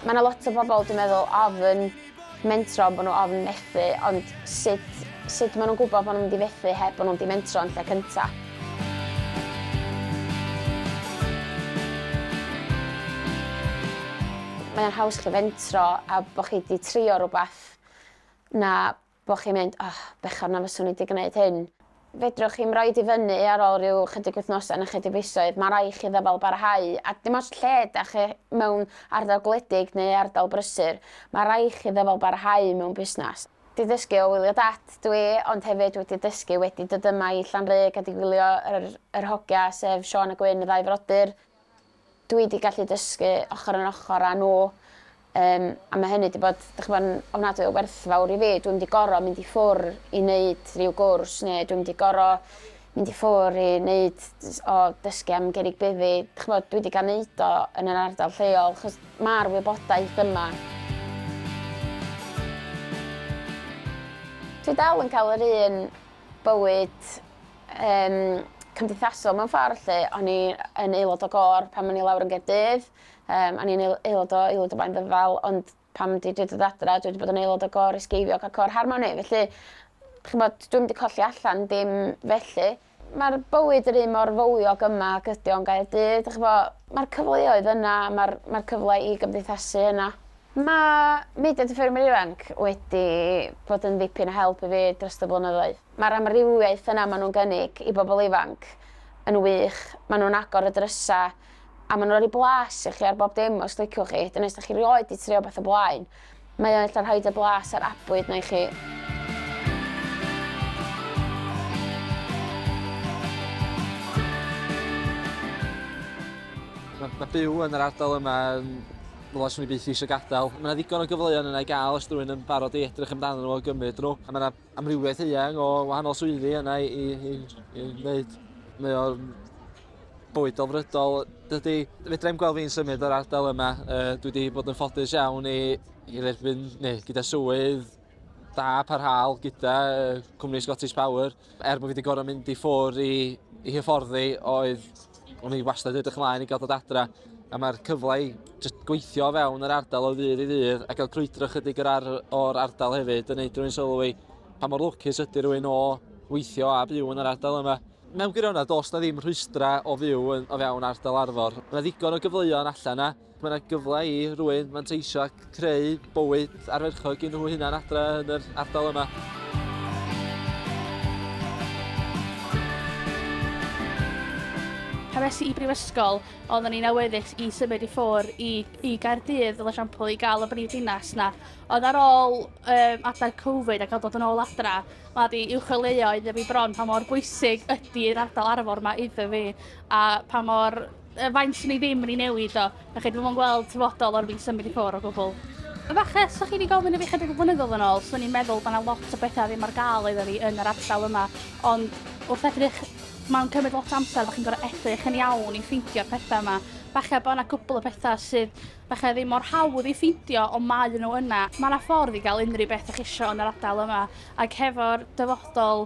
Mae yna lot o bobl, dwi'n meddwl, ofn mentro, bod nhw ofn methu, ond sut, sut maen nhw'n gwybod bod nhw'n mynd i fethu heb bod nhw'n di mentro yn lle cyntaf? Mae o'n haws gallu fentro a bod chi wedi trio rhywbeth na bod chi'n mynd, oh, bechod na fyswn i wedi gwneud hyn. Fedrwch chi'm roed i fyny ar ôl rhyw chydig wythnosau na chydig fisoedd, mae rai chi ddyfal barhau, a dim ots lle da chi mewn ardal gwledig neu ardal brysur, mae rai chi ddyfal barhau mewn busnes. 'di ddysgu o wylio dad dw i ond hefyd wedi dysgu wedi dod yma i Llanrug a 'di gwylio yr yr hogia sef Siôn a Gwyn y ddau frodyr dw i 'di gallu dysgu ochor yn ochor â nhw yym a ma' hynny 'di bod dych ch'mod yn ofnadwy o werthfawr i fi dwi'm 'di goro mynd i ffwr' i neud ryw gwrs ne' dwi'm 'di goro mynd i ffwr i neud o dysgu am gerrig beddi ch'mod dwi 'di ga'l neud o yn yr ardal lleol 'chos ma'r wybodaeth yma. Dwi dal yn ca'l yr un bywyd yym cymdeithasol mewn ffor 'lly o'n i yn aelod o gôr pan o'n i lawr yn Gaerdydd yym o'n i'n ael- aelod o Aelwyd y Blaen Ddyfal ond Pan dwi 'di dod adra dwi 'di bod yn aelod o gôr Ysgeifiog a côr Harmoni felly ch'mod dwi'm 'di colli allan dim felly. Ma'r bywyd yr un mor fywiog yma ag ydi o yn Gaerdydd a ch'mo' ma'r cyfleoedd yna ma'r ma'r cyfle i gymdeithasu yna. Ma' mudiad y Ffermwyr Ifanc wedi bod yn ddipyn o help i fi drost y blynyddoedd. Ma'r amrywiaeth yna ma' nw'n gynnig i bobol ifanc yn wych ma' nw'n agor y drysa a maen nhw'n rhoi blas i chi ar bob dim os liciwch chi, dyna os da chi rioed di trio beth o blaen. Mae o'n eitha rhaid y blas ar abwyd na i chi. Mae, mae byw yn yr ardal yma yn Wel, swn i byth eisiau gadael. Mae yna ddigon o gyfleoedd yna i gael os rhywun yn barod i edrych amdano nhw a gymryd nhw. A mae yna amrywiaeth eang o wahanol swyddi yna i, i, i, i wneud mwy o'r bywyd delfrydol. Dydy, fedra i'n gweld fi'n symud o'r ardal yma. Uh, dwi wedi bod yn ffodus iawn i, i dderbyn, neu gyda swydd da parhaol gyda uh, cwmni Scottish Power. Er bod fi wedi gorau mynd i ffwr i, i hyfforddi oedd O'n i wastad edrych ymlaen i gael dod adra, a mae'r cyfle i just gweithio o fewn yr ardal o ddydd i ddydd, a gael crwydro chydig o'r, ar, or ardal hefyd, yn neud rhywun sylwi pa mor lwcus ydy rhywun o weithio a byw yn yr ardal yma. Mewn gwirionedd, dos na ddim rhwystra o fyw yn, o fewn ardal Arfor. Mae ddigon o gyfleoedd allan na, Mae yna gyfle i rwy'n manteisio ac creu bywyd arferchog i nhw hunan adre yn yr ardal yma. Pan es i i brifysgol, oeddwn i'n awyddus i symud i ffwr i, i Gaerdydd, fel esiampl, i gael y brif dinas na. Ond ar ôl um, adeg Covid a cael dod yn ôl adra, mae wedi i'w chwilio iddo fi bron pa mor bwysig ydy'r ardal arfor yma iddo fi a pa mor y faint sy'n ei ddim yn ei newid o. Da chi, dwi'n gweld tyfodol o'r fi symud i ffwr o gwbl. Y fache, os ydych chi wedi gofyn i fi chydig o flynyddoedd yn ôl, swn i'n meddwl bod yna lot o bethau ddim ar gael iddo fi yn yr ardal yma, ond wrth edrych, mae'n cymryd lot o amser, da chi'n gorau edrych yn iawn i ffeindio'r pethau yma. Fache bod yna gwbl o bethau sydd fache ddim mor hawdd i ffeindio, ond mae nhw yna. Mae yna ffordd i gael unrhyw beth ydych chi eisiau yn yr ardal yma, ac hefo'r dyfodol